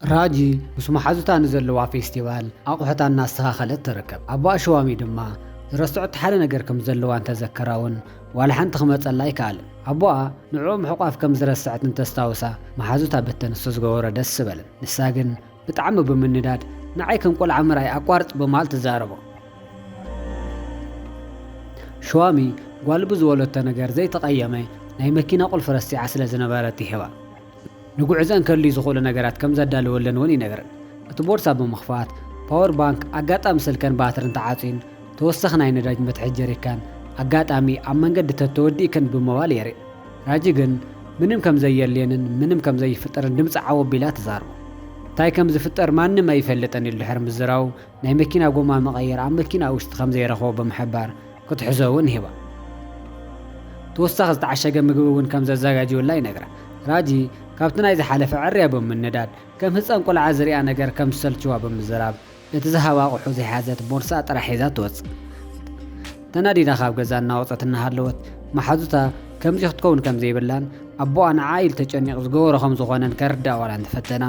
ራጂ ምስ መሓዙታ ንዘለዋ ፌስቲቫል ኣቑሑታ እናስተኻኸለት ትርከብ። ኣቦ ኣሽዋሚ ድማ ዝረሰዐቶ ሓደ ነገር ከም ዘለዋ እንተዘከራ'ውን ዋላ ሓንቲ ክመጸላ ኣይከኣለን። ኣቦኣ ንዕኡ ምሕቋፍ ከም ዝረሰዐት እንተስታውሳ መሓዙታ በተ ንሱ ዝገበሮ ደስ በለን። ንሳ ግን ብጣዕሚ ብምንዳድ ንዓይ ከም ቆልዓ ምርኣይ ኣቋርጽ ብምባል ትዛረቦ። ሽዋሚ ጓል ብዝበለቶ ነገር ዘይተቐየመ ናይ መኪና ቁልፊ ረሲዓ ስለ ዝነበረት ይህባ። ንጉዕዘን ከድልዩ ዝኽእሉ ነገራት ከም ዘዳለወለን እውን ይነግረን። እቲ ቦርሳ ብምኽፋት፣ ፓወር ባንክ፣ ኣጋጣሚ ስልከን ባትርን ተዓጽዩን ተወሳኺ ናይ ነዳጅ መትሓዚ ጀሪካን፣ ኣጋጣሚ ኣብ መንገዲ ተተወዲእክን ብምባል የርኢ። ራጂ ግን ምንም ከም ዘየድልየንን ምንም ከም ዘይፍጠርን ድምጻ ዓው ኣቢላ ትዛረቦ። እንታይ ከም ዝፍጠር ማንም ኣይፈልጥን ኢሉ ድሕሪ ምዝራቡ፣ ናይ መኪና ጎማ መቐየሪ ኣብ መኪናኡ ውሽጢ ከም ዘይረኸቦ ብምሕባር፣ ክትሕዞ እውን ሂባ። ተወሳኺ ዝተዓሸገ ምግቢ እውን ከም ዘዘጋጅዩላ ይነግራ። ራጂ፣ ካብቲ ናይ ዝሓለፈ ዕርያ ብምንዳድ፣ ከም ህጻን ቈልዓ ዝርኣ ነገር ከም ዝሰልችዋ ብምዝራብ፣ እቲ ዝሃባ ኣቝሑ ዘይሓዘት ቦርሳኣ ጥራሕ ሒዛ ትወጽእ። ተናዲዳ ካብ ገዛ እናወጸት እናሃለወት፣ መሓዙታ ከምዚ ክትከውን ከም ዘይብላን ኣቦኣ ንዓኣ ኢሉ ተጨኒቑ ዝገበሮ ከም ዝዀነን ከርድኣ ዋላ እንተፈተና፣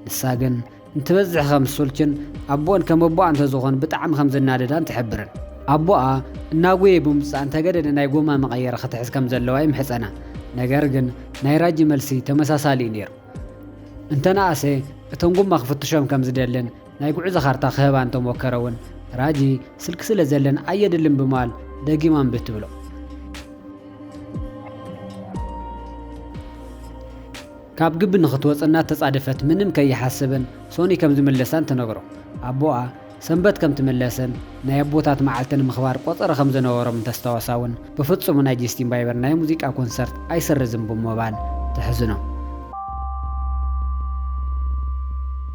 ንሳ ግን፣ እንትበዝሕ ከም ዝሱልችን ኣቦኦን ከም ኣቦኣ እንተዝኾን ብጣዕሚ ከም ዝናደዳን ትሕብርን። ኣቦኣ እናጎየ ብምምጻእ እንተገደደ ናይ ጎማ መቐየሪ ክትሕዝ ከም ዘለዋ ይምሕጸና። ነገር ግን ናይ ራጂ መልሲ ተመሳሳሊ እዩ ነይሩ። እንተነኣሰ እቶም ጎማ ክፍትሾም ከም ዝደልን ናይ ጉዕዞ ካርታ ክህባ እንተሞከረ እውን ራጂ ስልኪ ስለ ዘለን ኣየድልን ብምባል ደጊማ እምቢ ትብሎ። ካብ ግቢ ንኽትወጽእ እናተጻደፈት ምንም ከይሓሰበን ሶኒ ከም ዝምለሳን ትነግሮ። ኣቦኣ ሰንበት ከም ትምለስን ናይ ኣቦታት መዓልቲ ንምኽባር ቆጸሮ ከም ዝነበሮም እንተስታወሳ እውን ብፍጹም ናይ ጀስቲን ባይበር ናይ ሙዚቃ ኮንሰርት ኣይስርዝን ብምባል ተሕዝኖ።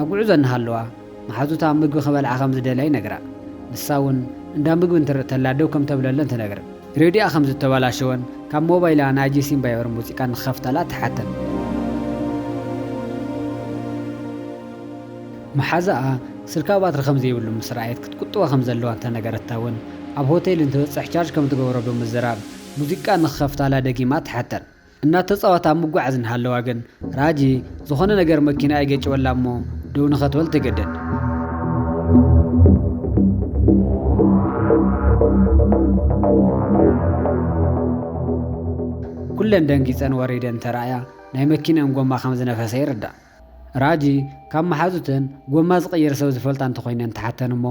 ኣብ ጉዕዞ እናሃለዋ፣ መሓዙታ ምግቢ ክበልዓ ከም ዝደልያ ይነግራ። ንሳ እውን እንዳ ምግቢ እንትርኢ ተላ ደው ከም ተብለለን ትነግር። ሬድዮኣ ከም ዝተበላሸወን ካብ ሞባይላ ናይ ጀሲን ባየርን ሙዚቃ ንክኸፍታላ ትሓተን። መሓዛኣ ስልካ ባትሪ ከም ዘይብሉ ምስ ረኣየት ክትቁጥቦ ከም ዘለዋ እንተ ነገረታ እውን፣ ኣብ ሆቴል እንትበጽሕ ቻርጅ ከም ትገብሮ ብምዝራብ ሙዚቃ ንክኸፍታላ ደጊማ ትሓተን። እናተጻወታ ኣብ ምጉዓዝ እንሃለዋ ግን፣ ራጂ ዝኾነ ነገር መኪናኣ ይገጭወላ እሞ ደው ንኸትበል ትግደድ። ኩለን ደንጊጸን ወሪደን እንተረኣያ ናይ መኪንኦም ጎማ ከም ዝነፈሰ ይርዳእ። ራጂ ካብ መሓዙተን ጎማ ዝቕይር ሰብ ዝፈልጣ እንተኾይነን ትሓተን እሞ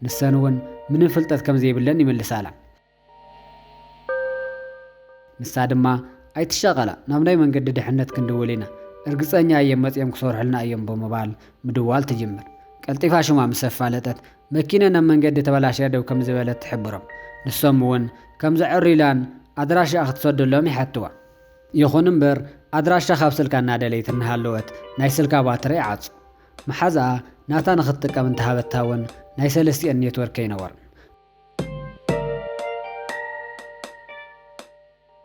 ንሰን እውን ምንም ፍልጠት ከም ዘይብለን ይምልሳላ። ንሳ ድማ ኣይትሻቐላ ናብ ናይ መንገዲ ድሕነት ክንድውል ኢና እርግፀኛ እየ መፂኦም ክሰርሑልና እዮም ብምባል ምድዋል ትጅምር። ቀልጢፋ ሽማ ምስ ኣፋለጠት መኪነን ኣብ መንገዲ ተበላሽያ ደው ከምዝበለት ትሕብሮም። ንሶም እውን ከምዘዐርዩላን ኣድራሻኣ ክትሰደሎም ይሓትዋ። ይኹን እምበር ኣድራሻ ካብ ስልካ እናደለየት እናሃለወት ናይ ስልካ ባትሪ ይዓፁ። መሓዝኣ ናታ ንክትጥቀም እንተሃበታ እውን ናይ ሰለስቲኤን ኔትወርክ ኣይነበሮን።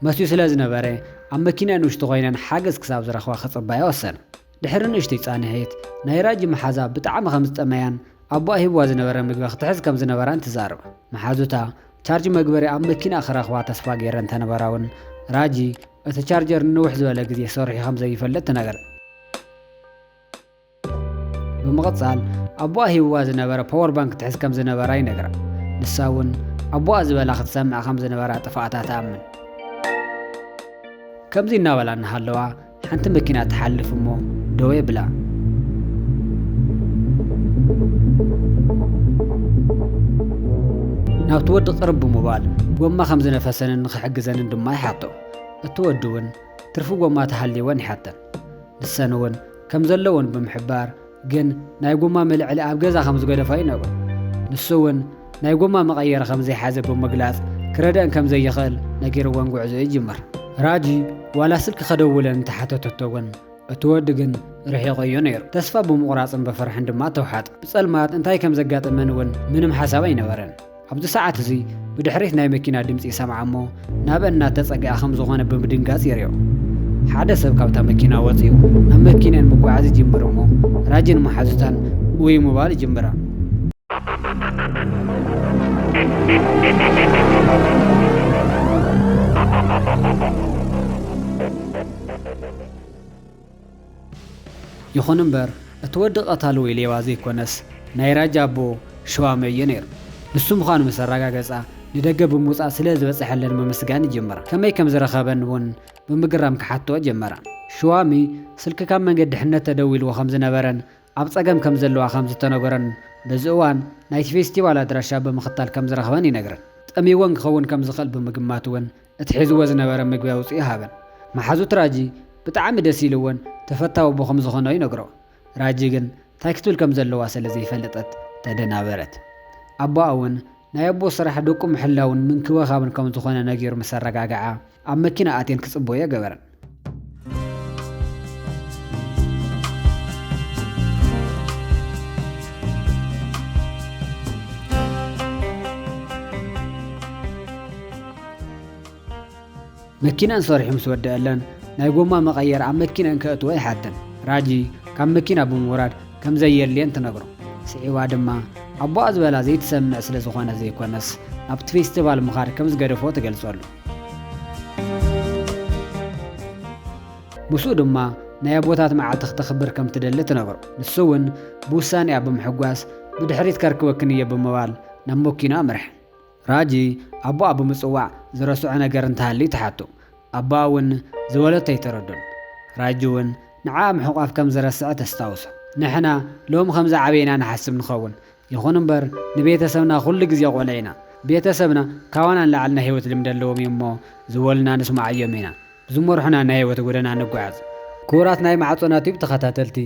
መስትዮ ስለ ዝነበረ፣ ኣብ መኪና ንእሽቶ ኮይነን ሓገዝ ክሳብ ዝረኽባ ክጽባያ ወሰና። ድሕሪ ንእሽቶይ ጻንሒት፣ ናይ ራጂ መሓዛ ብጣዕሚ ከም ዝጠመያን ኣቦኣ ሂብዋ ዝነበረ ምግቢ ክትሕዝ ከም ዝነበራን ትዛረብ። መሓዙታ ቻርጅ መግበሪ ኣብ መኪንኣ ክረኽባ ተስፋ ገይረን እንተነበራ እውን፣ ራጂ እቲ ቻርጀር ንንውሕ ዝበለ ግዜ ሰሪሑ ከም ዘይፈልጥ ትነግረን። ብምቕጻል ኣቦኣ ሂብዋ ዝነበረ ፓወር ባንክ ትሕዝ ከም ዝነበራ ይነግራ ንሳ እውን ኣቦኣ ዝበላ ክትሰምዕ ከም ዝነበራ ጥፋኣታ ትኣምን ከምዚ እናበላ እናሃለዋ ሓንቲ መኪና ትሓልፍ እሞ ደወ ብላ ናብቲ ወዲ ቅርብ ብምባል ጎማ ከም ዝነፈሰንን ንኽሕግዘንን ድማ ይሓቶ እቲ ወዲ እውን ትርፊ ጎማ ተሃልይወን ይሓተን ንሰን እውን ከም ዘለወን ብምሕባር ግን ናይ ጎማ መልዕሊ ኣብ ገዛ ከም ዝገደፋ እዩ ነግሩ። ንሱ እውን ናይ ጎማ መቐየሪ ከም ዘይሓዘ ብምግላጽ ክረደእን ከም ዘይኽእል ነጊርወን ጉዕዞ ይጅምር። ራጂ ዋላ ስልኪ ከደውለን እንተሓተተቶ እውን እቲ ወዲ ግን ርሒቑ እዩ ነይሩ። ተስፋ ብምቑራጽን ብፍርሕን ድማ ተውሓጠ። ብጸልማት እንታይ ከም ዘጋጥመን እውን ምንም ሓሳብ ኣይነበረን። ኣብዚ ሰዓት እዚ ብድሕሪት ናይ መኪና ድምጺ ይሰምዓ እሞ ናበን እናተጸግኣ ከም ዝኾነ ብምድንጋጽ ይሪኦ። ሓደ ሰብ ካብታ መኪና ወጺኡ ናብ መኪንኤን ምጉዓዝ ይጅምር እሞ ራጂን መሓዙታን ኡይ ምባል ይጅምራ። ይኹን እምበር እቲ ወዲ ቀታሊ ወይ ሌባ ዘይኮነስ ናይ ራጃ ኣቦ ሽዋመ እዮ ነይሩ። ንሱ ምዃኑ ምስ ኣረጋገጻ ንደገ ብምውጻእ ስለ ዝበጸሐለን ምምስጋን ይጅምራ። ከመይ ከም ዝረኸበን እውን ብምግራም ክሓትኦ ጀመራ። ሽዋሚ ስልኪ ካብ መንገዲ ድሕነት ተደዊልዎ ከም ዝነበረን ኣብ ጸገም ከም ዘለዋ ከም ዝተነገሮን በዚ እዋን ናይቲ ፌስቲቫል ኣድራሻ ብምኽታል ከም ዝረኽበን ይነግረን። ጠምይወን ክኸውን ከም ዝኽእል ብምግማት እውን እቲ ሒዝዎ ዝነበረ ምግቢ ኣውጺኡ ሃበን። መሓዙት ራጂ ብጣዕሚ ደስ ኢልወን ተፈታዊ ኣቦ ከም ዝኾኖ ይነግሮ። ራጂ ግን ታይ ክትብል ከም ዘለዋ ሰለ ዘይፈለጠት ተደናበረት። ኣቦኣ ውን ናይ ኣቦ ስራሕ ደቁ ምሕላውን ምንክብኻብን ከም ዝኾነ ነጊሩ ምስ ኣረጋግዓ ኣብ መኪና ኣትየን ክጽበዮ ገበረን። መኪናን ሰሪሑ ምስ ወደአለን ናይ ጎማ መቐየር ኣብ መኪነን ከእትዎ ይሓተን ራጂ ካብ መኪና ብምውራድ ከም ዘየድልየን ትነግሮ ስዒባ ድማ ኣቦኣ ዝበላ ዘይትሰምዕ ስለ ዝኾነ ዘይኮነስ ናብቲ ፌስቲቫል ምኻድ ከም ዝገደፎ ትገልጸሉ ምስኡ ድማ ናይ ኣቦታት መዓልቲ ክተኽብር ከም ትደሊ ትነግሮ። ንሱ እውን ብውሳኔኣ ብምሕጓስ ብድሕሪት ከርክበክን እየ ብምባል ናብ መኪኑ ኣምርሐ። ራጂ ኣቦኣ ብምጽዋዕ ዝረስዖ ነገር እንተሃልዩ ትሓቶ። ኣቦኣ እውን ዝበለቶ ኣይተረዶን። ራጂ እውን ንዓኣ ምሕቋፍ ከም ዝረስዐ ተስታውሶ። ንሕና ሎሚ ከምዝዓበና ንሓስብ ንኸውን። ይኹን እምበር ንቤተሰብና ኩሉ ግዜ ቁልዕ ኢና ቤተሰብና ካባና ንላዕሊ ናይ ህይወት ልምዲ ኣለዎም እዮም እሞ ዝበሉና ንስምዓዮም ኢና ብዝመርሑና ናይ ህይወት ጎደና ንጓዓዝ። ክቡራት ናይ ማዕጾና ቲዩብ ተኸታተልቲ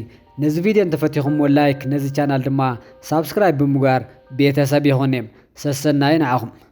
ነዚ ቪድዮ እንተፈቲኹምዎ ላይክ ነዚ ቻናል ድማ ሳብስክራይብ ብምግባር ቤተሰብ ይኹን ሰሰናዩ ንዓኹም።